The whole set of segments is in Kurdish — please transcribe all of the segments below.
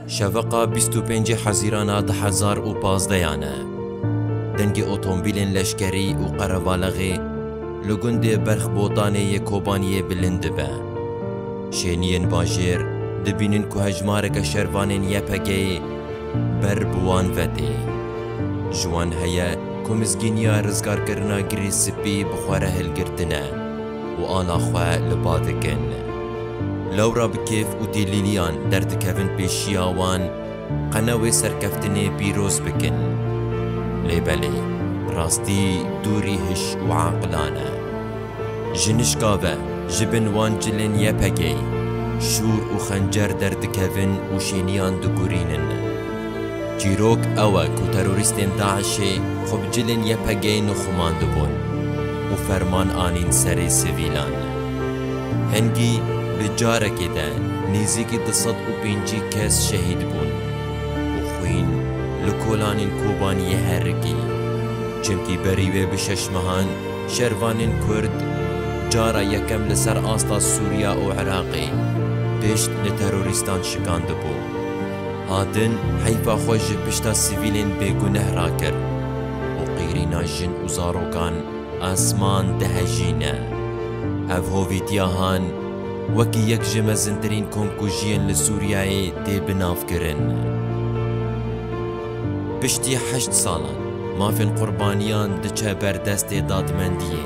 Şeveqa 25 Hezîrana 2015 e. Dengê otomobîlên leşkerî û qerevalexê li gundê Berx Botanê yê Kobaniyê bilind dibe. Şêniyên bajêr dibînin ku hejmareke şervanên YPG'yê ber bi wan ve tê. Ji wan heye ku mizgîniya rizgarkirina Girê Spî bi xwe re hilgirtine. û ana xwe li ba dikin. Lewra bi kêf û dîlîliyan derdikevin pêşiya wan, qene wê serkeftinê pîroz bikin. Lê belê, rastî dûrî hiş û aqilan e. Jinişka ve ji bin wan cilên YPG'ê, şûr û xencer derdikevin û şêniyan digurînin. Çîrok ew e ku terorîstên DAIŞ'ê xwe bi cilên YPG'ê nixumandibûn û ferman anîn serê sivîlan. Hingî bi carekê de nêzîkî du sed û pêncî kes şehîd bûn û xwîn li kolanên Kobaniyê herikî. Çimkî berî wê bi şeş mehan şervanên Kurd cara yekem li ser asta Sûriya û Iraqê pişt li terorîstan şikandibû. hatin heyfa xwe ji pişta sivîlên bêguneh rakir û qîrîna jin û zarokan esman dihejîne. Ev hovî tiahan wekî yek ji mezintirîn komkujiyên li Sûriyeyê tê binavkirin. Piştî heşt salan mafên qurbaniyan diçe ber destê dadmendiyê.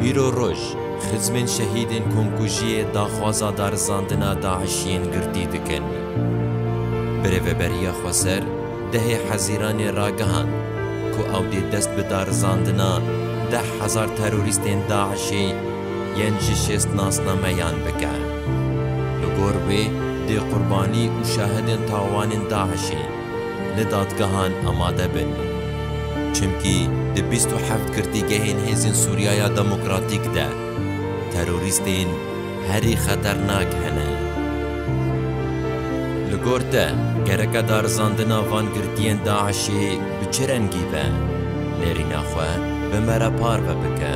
Îro roj, Xizmên şehîdên komkujiyê daxwaza darizandina DAIŞ'iyên girtî dikin. Bi Rêveberiya Xweser dehê Hezîranê ragihand ku ew dê dest bi darizandina deh hezar terorîstên DAIŞ'ê yên ji şêst nasnameyan bike. Li gor wê dê qurbanî û şahidên tawanên DAIŞ'ê, li dadgehan amade bin. Çimkî di bîst û heft girtîgehên Hêzên Sûriyaya Demokratîk de terorîstên herî xeternak hene. Li gor te gereke darizandina van girtiyên DAIŞ'ê bi çi rengî be, nêrîna xwe bi me re parve bike.